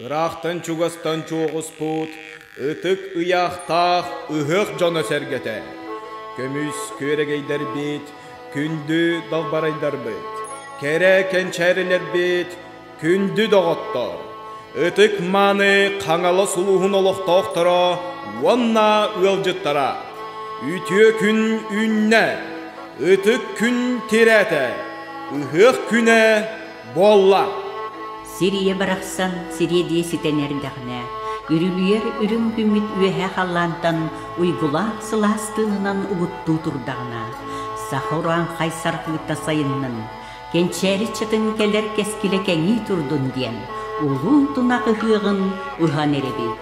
Ыраахтан-чугастан чуоҕуспут ытык ыйаахтаах ыһыах дьоно-сэргэтэ, көмүс күөрэгэйдэрбит, күндү далбарайдарбыт, кэрэ кэнчээрилэрбит, күндү доҕоттор, ытык-мааны Хаҥалас улууһун олохтоохторо уонна ыалдьыттара, үтүө күн үүннэ, ытык күн тирээтэ, ыһыах күнэ Буолла! Сир ийэ барахсан сириэдийэ ситэн эрдэҕинэ, үрүлүйэр үрүҥ күммүт үөһэ халлаантан уйгулаах сылаас тыаһынан угуттуу турдаҕына, саха урааҥхай саргыыта сайыннын, кэнчээри чытын кэлэр кэскилэ кэҥии турдун диэн улуу тунах ыһыаҕын ыһан эрэбит.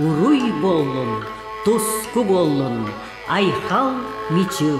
Уруй буоллун, туску буоллун, Айхал Мичил!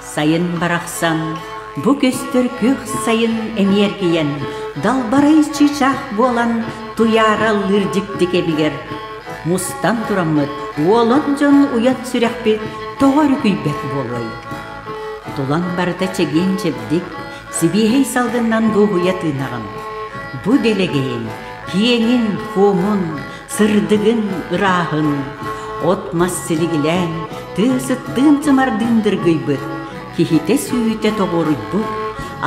Сайын барахсан бу көстөр күөх сайын эмиэргийэн далбарай чыычаах буолан туйаараллыыр дьикти кэмигэр мустан тураммыт уолун дьон уйан сүрэхпит тоҕо эрэ күйбэт буолуой тулан барыта чэгиэн чэбдик сибиэһэй салгыннан дуоһуйа тыынаҕын бу дэлэгэйин киэҥин хуомун Сырдыгын ырааһын от-мас силигилээн тыа сыттыын сымардыын дыргыйбыт, киһитэ сүүтэ тоҕуоруйбут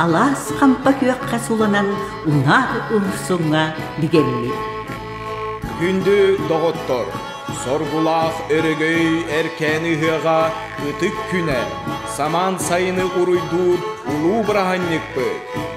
алаас хампа күөххэ суланан унаар умсуҥа бигэллик. Күндү доҕоттор, соргулаах өрөгөй эркээн ыһыаҕа ытык күнэ, самаан сайыны уруйдуур улуу быраһанньыкпыт.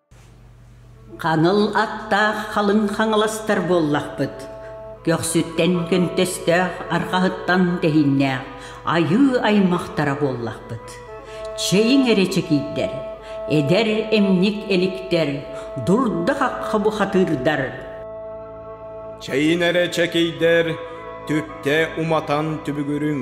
Ханыл аттаах халыҥ хаҥаластар буоллахпыт, көхсүттэн көнтөстөөх арҕаһыттан тэһиннээх айыы аймахтара буоллахпыт. Чэйиҥ эрэ чэкийдэр, эдэр эмньик эликтэр, дурда хахха бухатыырдар. Чэйиҥ эрэ чэкийдэр, түптэ уматан түбүгүрүҥ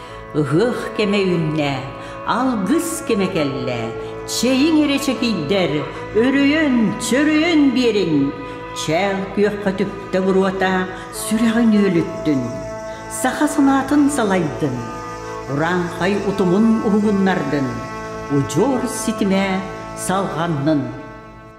Ыһыах кэмэ үүннэ, алгыс кэмэ кэллэ, чэйиҥ эрэ чэкийдэр, өрөйөн, чөрөйөн биэриҥ. Чээл күөххэ түптэ буруота, сүрэҕин үөлүттүн. Саха санаатын салайдын, урааҥхай утумун уһугуннардын, удьуор ситимэ салҕаннын.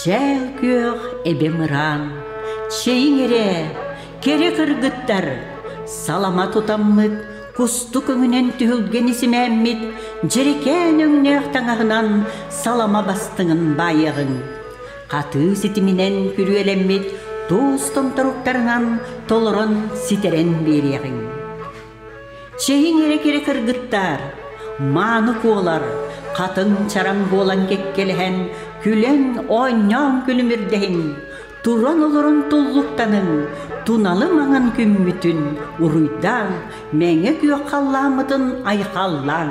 Чээл күөх эбэм ыраан, чэйиҥ эрэ, кэрэ кыргыттар, салама тутаммыт, кустук өҥүнэн түһүлгэни симээммит дьэрэкээн өҥнөөх таҥаһынан салама бастыҥын баайыаҕыҥ. Хатыы ситиминэн күрүөлэммит туус томторуктарынан толорон ситэрэн биэриэҕиҥ. Чэһиҥ эрэ-кэрэ кыргыттаар, мааны куолар, хатыҥ чараҥ буолан кэккэлэһэн, күлэн, оонньоон күлүм ирдэһиҥ, туран олорон туллуктаныҥ, туналы маҥан күммүтүн уруйдааҥ, мэҥэ күөх халлааммытын айхаллааҥ.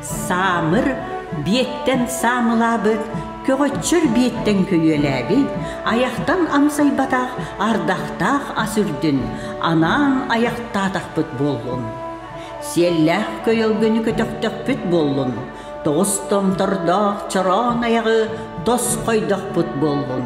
Саамыр биэттэн саамылаабыт, көҕөччөр биэттэн күлүөлээбит, айахтан амсайбатах ардахтаах ас үрдүн анаан айахтаатахпыт буоллун. Сиэллээх көйөлгөнү көтөхтөхпүт буоллун, тоҕус томтордоох чороон айаҕы тос хойдохпут буоллун.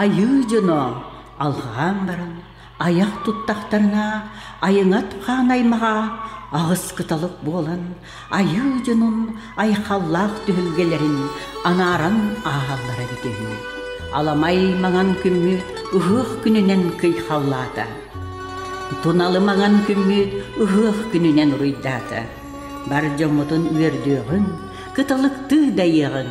Айыы дьоно алҕаан баран айах туттахтарына айыҥат хаан аймаҕа аҕыс кыталык буолан айыы дьонун айхаллаах түһүлгэлэрин анааран ааһаллара эбит үһү. Аламай маҥан күммүт ыһыах күнүнэн кыйхаллаата. Туналы маҥан күммүт ыһыах күнүнэн уруйдаата. Бар дьоҥҥутун үөрдүөҕүн, кыталыктыы дайыаҕыҥ,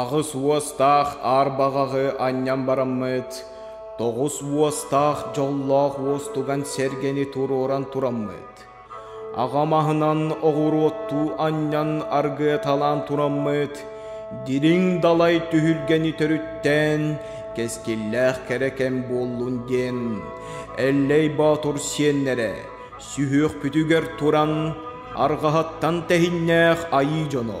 Аҕыс уостаах аар баҕаҕы анньан бараммыт, тоҕус уостаах дьоллоох уостуган сэргэни туруоран тураммыт. Аҕа маһынан оҕуруоттуу анньан аргыаталаан тураммыт, дириҥ далай түһүлгэни төрүттээн кэскиллээх кэрэ кэм буоллун диэн Эллэй Боотур сиэннэрэ сүһүөхпүтүгэр туран арҕаһыттан тэһиннээх айыы дьоно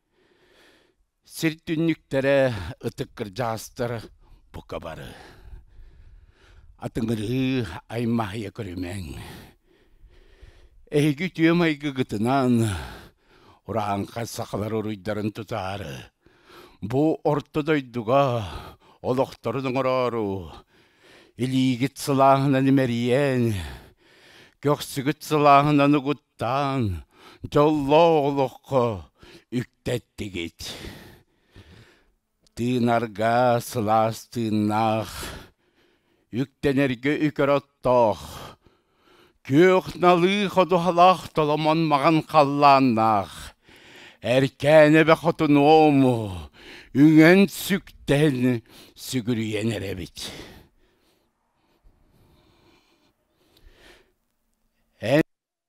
Сир түннүктэрэ, ытык кырдьаҕастар бука бары атыҥырыы аймаһыйа көрүмэҥ. Эһиги үтүө майгыгытынан урааҥха сахалар уруйдарын тутаары бу орто дойдуга олохторун оҥороору илиигит сылааһынан имэрийэн, көхсүгүт сылааһынан угуттаан Таҥ, дьоллоох олоххо үктэттигит. Тыынарга сылаас тыыннаах, үктэнэргэ үкэр оттоох, күөх налыы ходуһалаах толомон маҕан халлааннаах, эркээнэбэ хотунуому, үҥэн сүктээн сүгүрүйэн эрэбит.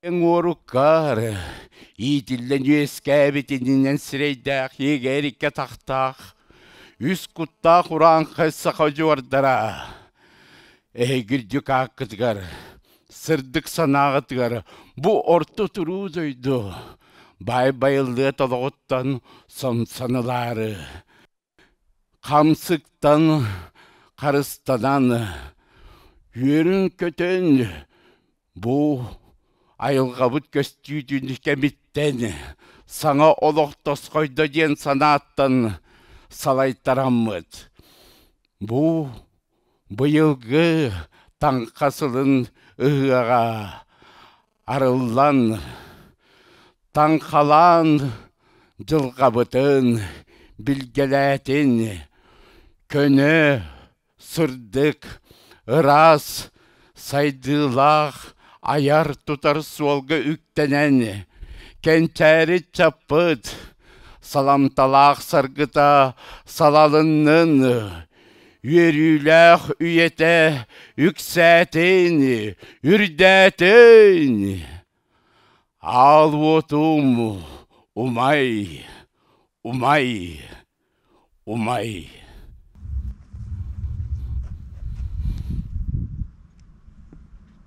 Эн уоруккаары иитиллэн үөскээбит иннинэн сирэйдээх ийигэ эриккэ тахтаах үс куттаах урааҥхай саха удьуордара эһиги үрдүк ааккытыгар сырдык санааҕытыгар бу орто туруу дойду баай байыллыат олоҕуттан самсанылаары Хамсыктан харыстанан үөрүн-көтөн бу айылҕабыт көстүүтүн кэмиттэн саҥа олох тосхойдо диэн санааттан салайтараммыт. Бу быйылгы Таҥха сылын ыһыаҕа арыллан, таҥхалаан дьылҕабытын билгэлээтин көнө, сырдык, ыраас, сайдыылаах айар-тутар суолга үктэнэн кэнчээри чаппыт саламталаах саргыта салалыннын үөрүүлээх үйэтэ үксээтин, үрдээтин! Аал уотум умай, умай, умай.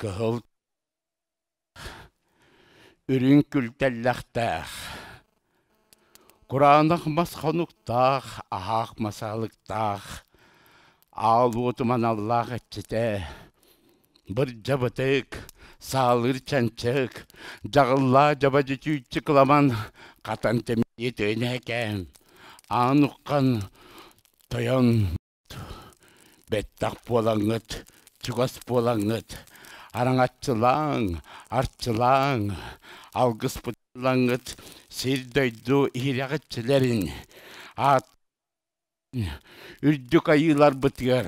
Кыһыл үрүҥ күл тэллэхтээх, кураанах мас хонуктаах, аһаах масаалыктаах, аал уотум аналлаах иччитэ Бырдьабытык, саалыыр чанчык, дьаҕыллаа дьаба дьичүүччү кыламан хатан тэмиэ төөнөөкээн, аан уххан тойон бэттэх буолаҥҥыт, чугас буолаҥҥыт, араҥаччылааҥ, арчылааҥ, алгыспытыллаҥҥыт сир-дойду иһирэҕиччилэрин аат Үрдүк Айыыларбытыгар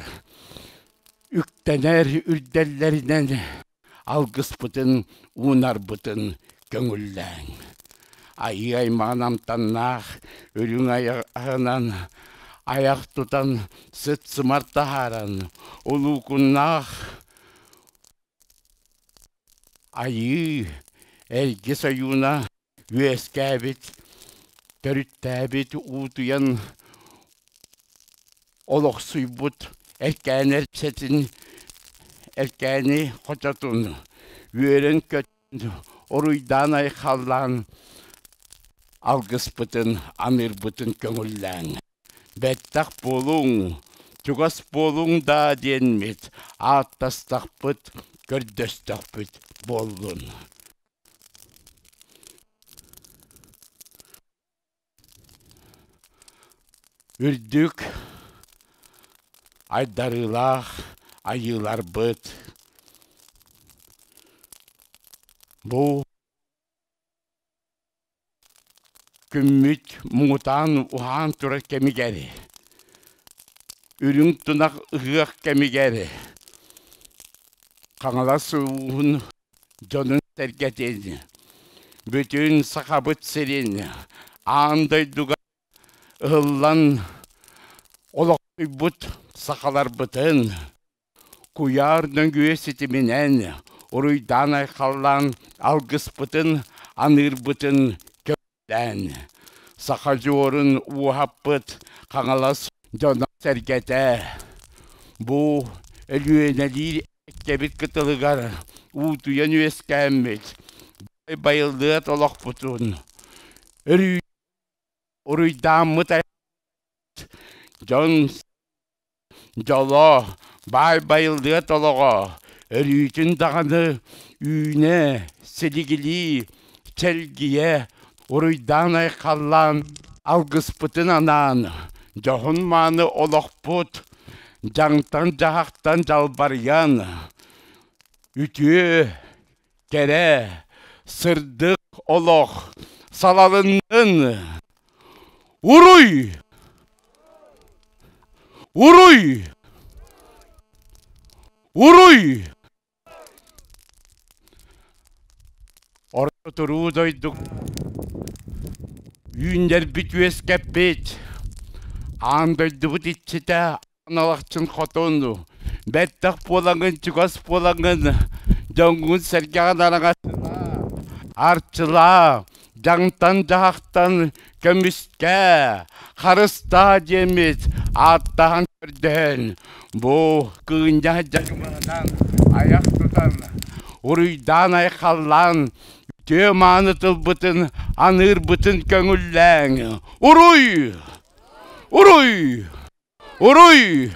үктэнэр үрдэллэринэн алгыспытын уунарбытын көҥүллээҥ. Айыы аймаҕын амтаннаах үрүҥ айаҕынан айах тутан сыт-сымар таһааран улуукуннаах Айыы Эргис ойууна үөскээбит, төрүттээбит, уутуйан олохсуйбут эркээн эрчэтин, эркээни хочотун, үөрэн-көтөн, уруйдаан-айхаллаан алгыспытын, аныырбытын көҥүллээҥ. Бэттэх буолуҥ, чугас буолуҥ даа диэммит, ааттастахпыт, көрдөстөхпүт буоллун. үрдүк айдарыылаах айыыларбыт бу Күммүт муҥутаан уһаан турар кэмигэр, үрүҥ тунах ыһыах кэмигэр Хаҥалас улууһун дьонун-сэргэтин, бүтүн Сахабыт сирин, аан дойдуга ыһыллан олохсуйбут сахаларбытын, Куйаар нөҥүө ситиминэн уруйдаан-айхаллаан алгыспытын, аныырбытын көҥүллээн, сахадьуорун ууһаппыт Хаҥалас дьоно-сэргэтэ бу Өлүөнэлиир эбэккэбит кытылыгар уутуйан үөскээммит байыллыат олохпутун, уруйдааммыт айылҕабыт дьон Дьоло, баай байыллыат олоҕо, Өлүүтүн даҕаны үүнэ, силигилии, Чэлгийэ, уруйдаан-айхаллаан Алгыспытын анаан Дьоһун-мааны олохпут Дьаҥтан-дьаһахтан дьалбарыйан Үтүө, Кэрэ, сырдык олох салалыннын! Уруй! Уруй! Уруй! Орто туруу дойдук үүннэрбит үөскэппит аан дойдубут иччитэ Аналахчын хотун бэттэх буолаҥын чугас буолаҥын дьоҥҥун сэргэҕин араҥаччылаа арчылаа дьаҥтан дьаһахтан көмүскэ харыстаа диэммит ааттаһан көрдөһөн бу кыынньа дьаҥымаһынан айах тутан уруйдаан айхаллаан үтүө мааны тылбытын аныырбытын көҥүллээҥ уруй уруй Уруй!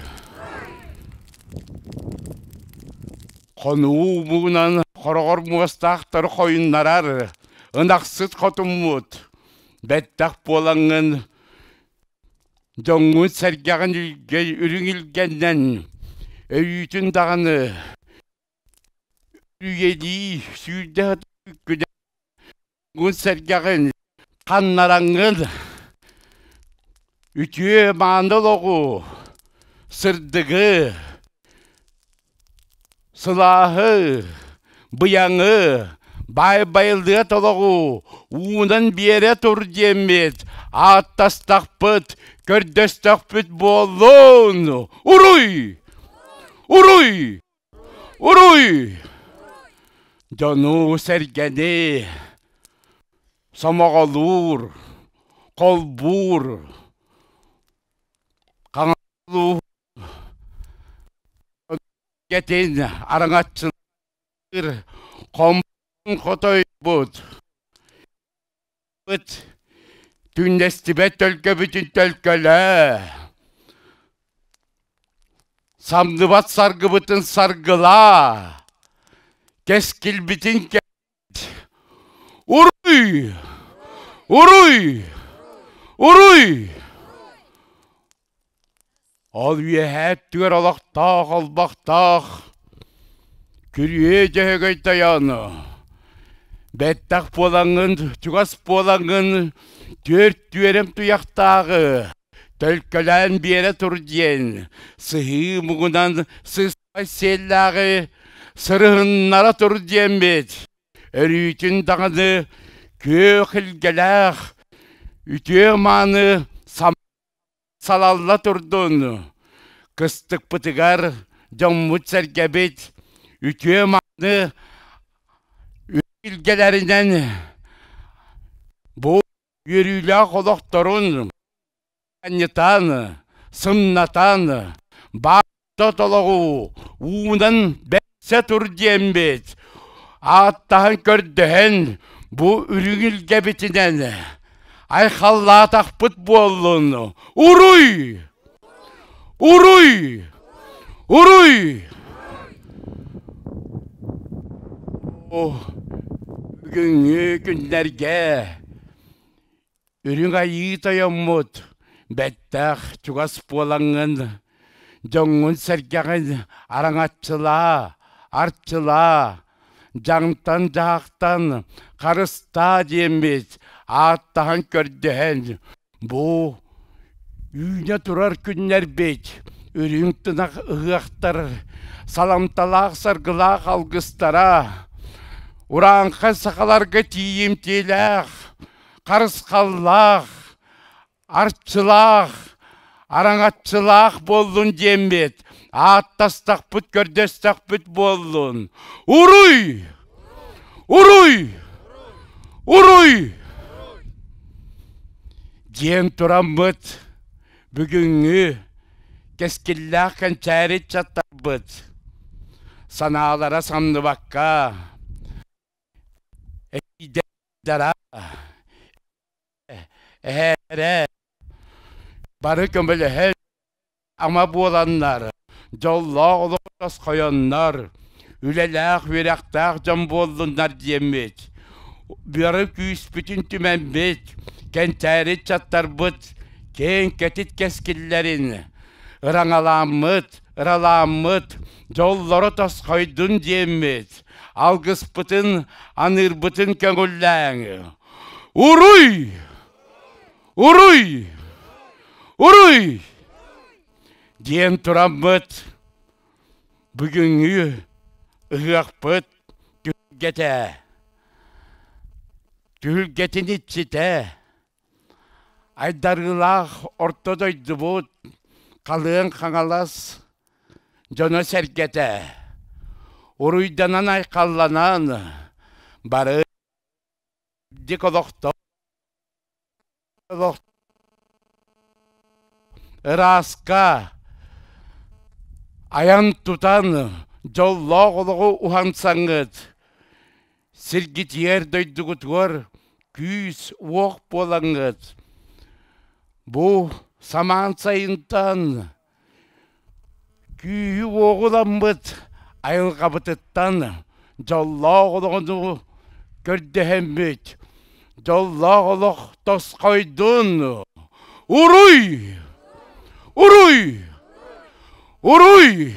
Хонуу муҥунан хороҕор муостаахтары хойуннарар ынахсыт хотуммут бэттэх буолаҥҥын дьоҥҥут сэргэҕин илгэй үрүҥ илгэннэн өйүүтүн даҕаны Үйэлии сүүрдэ сэргэҕин ханнараҥҥын үтүө мааны олоҕу сырдыгы сылааһы быйаҥы баай байылыат олоҕу уунан биэрэ тур диэммит ааттастахпыт көрдөстөхпүт буоллун уруй уруй Уруй дьону-сэргэни сомоҕолуур, холбуур, хаҥалыылуур дьон-сэргэтин араҥаччылыыр хомпун хотойбут Түүннэстибэт төлкөбүтүн төлкөлөө Самныбат саргыбытын саргылаа Кэскилбитин кэт Уруй! Уруй! Уруй! Ол үөһээ өттүгэр олохтоох олбохтоох күрүө Дьөһөгөй тойоону бэттэх буолаҥҥын чугас буолаҥҥын түөрт түөрэм туйахтааҕы төлкөлөөн биэрэ тур диэн сыһыы муҥунан сыспай сиэллээҕи сырыһыннара тур диэммит өрүүтүн даҕаны күөх илгэлээх үтүө мааны Салалла турдун, кыстыкпытыгар дьоммут-сэргэбит үтүө-маны өйүлгэлэринэн бу үөрүүлээх олохторун анньытан, сымнатан, баар тотологу уунан бэрсэ тур диэмбит ааттаһан көрдөһөн бу үрүҥүлгэбитинэн айхаллаатахпыт буоллун уруй уруй уруй бүгүҥҥү күннэргэ Үрүҥ Айыы тойоммут бэттээх чугас буолаҥҥын, дьоҥҥун-сэргэҕин араҥаччылаа, арчылаа, дьаҥтан-дьаһахтан харыстаа диэммит ааттаһан көрдөһөн, бу үүнэ турар күннэрбит үрүҥ тынах ыһыахтар саламталаах-саргылаах алгыстара, урааҥхай сахаларга тиийимтиэлээх харысхаллаах, арчылаах, араҥаччылаах буоллун диэммит, ааттастахпыт, көрдөстөхпүт буоллун. Уруй! Уруй! Уруй! диэн тураммыт бүгүҥҥү кэскиллээх кэнчээри чаттарбыт санаалара самныбакка Эһээрээ бары көмөлөһөр ама буоланнар дьоллоох олох тосхойоннор үлэлээх үөрэхтээх дьон буоллуннар диэммит бары күүспүтүн түмэммит кэнчээри ыччаттарбыт киэҥ кэтит кэскиллэрин ыраҥалааммыт Ыралааммыт, дьоллоро тосхойдун диэммит, алгыспытын, аныырбытын көҥүллээҥ. Уруй! Уруй! Уруй! диэн тураммыт бүгүҥҥү ыһыахпыт түһүлгэтэ. Түһүлгэтин иччитэ Айдарыылаах орто дойдубут халыан хаҥалас дьоно-сэргэтэ уруйданан-айхалланан бары үрдүк олохтоох ырааска айан-тутан дьоллоох олоҕу уһансаҥҥыт Сиргитигэр дойдугутугар күүс-уох буолаҥҥыт. Бу самаан сайынтан күүһү-уоҕу ламмыт айылҕабытыттан дьоллоох олоҕуну көрдөһөммүт. Дьоллоох олох тосхойдун! Уруй! Уруй! Уруй!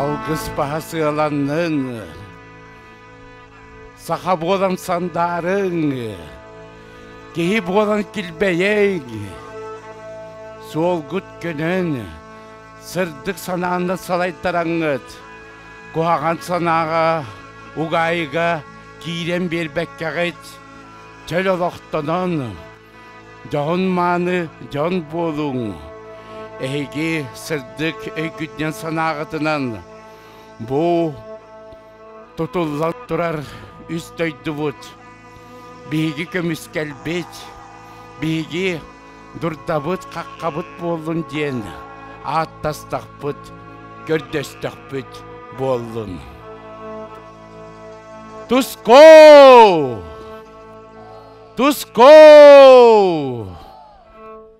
Алгыс баһасыалаҥҥын, саха буолан сандаарыҥ, киһи буолан килбэйиҥ, суолгут көнөн, Сырдык санааны салайтараҥҥыт, куһаҕан санааҕа, угаайыга киирэн биэрбэккэҕит, чөл олохтонон, дьоһун-мааны дьон буолуҥ. Эһиги сырдык өйгүтүнэн-санааҕытынан бу Тутуллан турар үс дойдубут биһиги көмүскэлбит, биһиги дурдабыт-хаххабыт буоллун диэн ааттастахпыт, көрдөстөхпүт буоллун. Туско! Туско!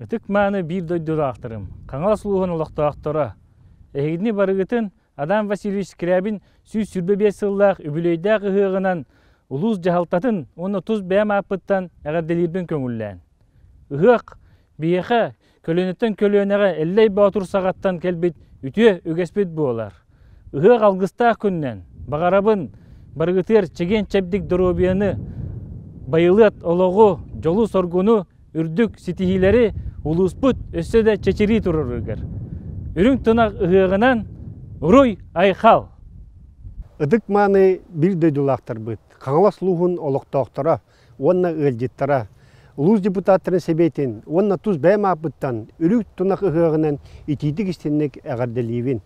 Ытык-мааны биир дойдулаахтарым, Хаҥалас улууһун олохтоохторо! Эһигини барыгытын Адам Васильевич Скрябин сүүс сүүрбэ биэс сыллаах үбүлүөйдээх ыһыаҕынан улуус дьаһалтатын уонна тус бэйэм ааппыттан эҕэрдэлиирбин көҥүллээн. Ыһыах биһиэхэ көлүөнэттэн көлүөнэҕэ Эллэй Боотур саҕаттан кэлбит үтүө үгэспит буолар. Ыһыах алгыстаах күннэн баҕарабын барыгытыгар чэгиэн-чэбдик доруобуйаны, байылыат олоҕу, дьолу-соргуну, үрдүк ситиһиилэри улууспут өссө да чэчирии туруоругар. Үрүҥ тунах ыһыаҕынан уруй-айхал! Ытык мааны биир дойдулаахтарбыт Хаҥалас улууһун олохтоохторо уонна ыалдьыттара, улуус депутаттарын сэбиэтин уонна тус бэйэм ааппыттан Үрүҥ тунах ыһыаҕынан итиитик-истиҥник эҕэрдэлиибин!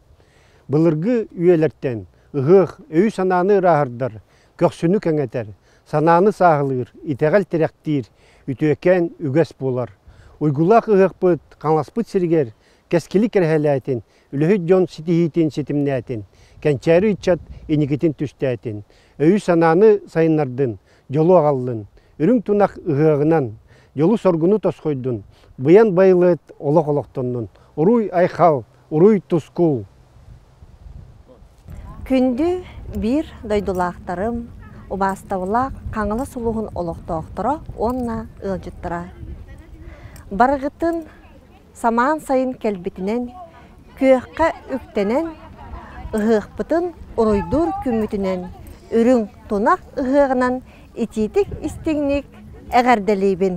Былыргы үйэлэртэн ыһыах өйү-санааны ырааһырдар, көхсүнү кэҥэтэр, санааны сааһылыыр, итэҕэл-тирэхтиир, үтүөкээн үгэс буолар. Уйгулаах ыһыахпыт Хаҥаласпыт сиригэр кэскили кэрэһэлээтин үлэһит дьон ситиһиитин ситимнээтин, кэнчээри ыччат иникитин түстээтин, өйү-санааны сайыннардын, дьолу аҕаллын, үрүҥ тунах ыһыаҕынан, дьолу-соргуну тосхойдун, быйан байылыат олох олохтоннун, уруй-айхал, уруй-тускул! Күндү биир дойдулаахтарым, убаастабылаах Хаҥалас улууһун олохтоохторо уонна ыалдьыттара! Барыгытын самаан сайын кэлбитинэн, күөххэ үктэнэн, ыһыахпытын уруйдуур күммүтүнэн, үрүҥ тунах ыһыаҕынан итиитик-истиҥник эҕэрдэлиибин!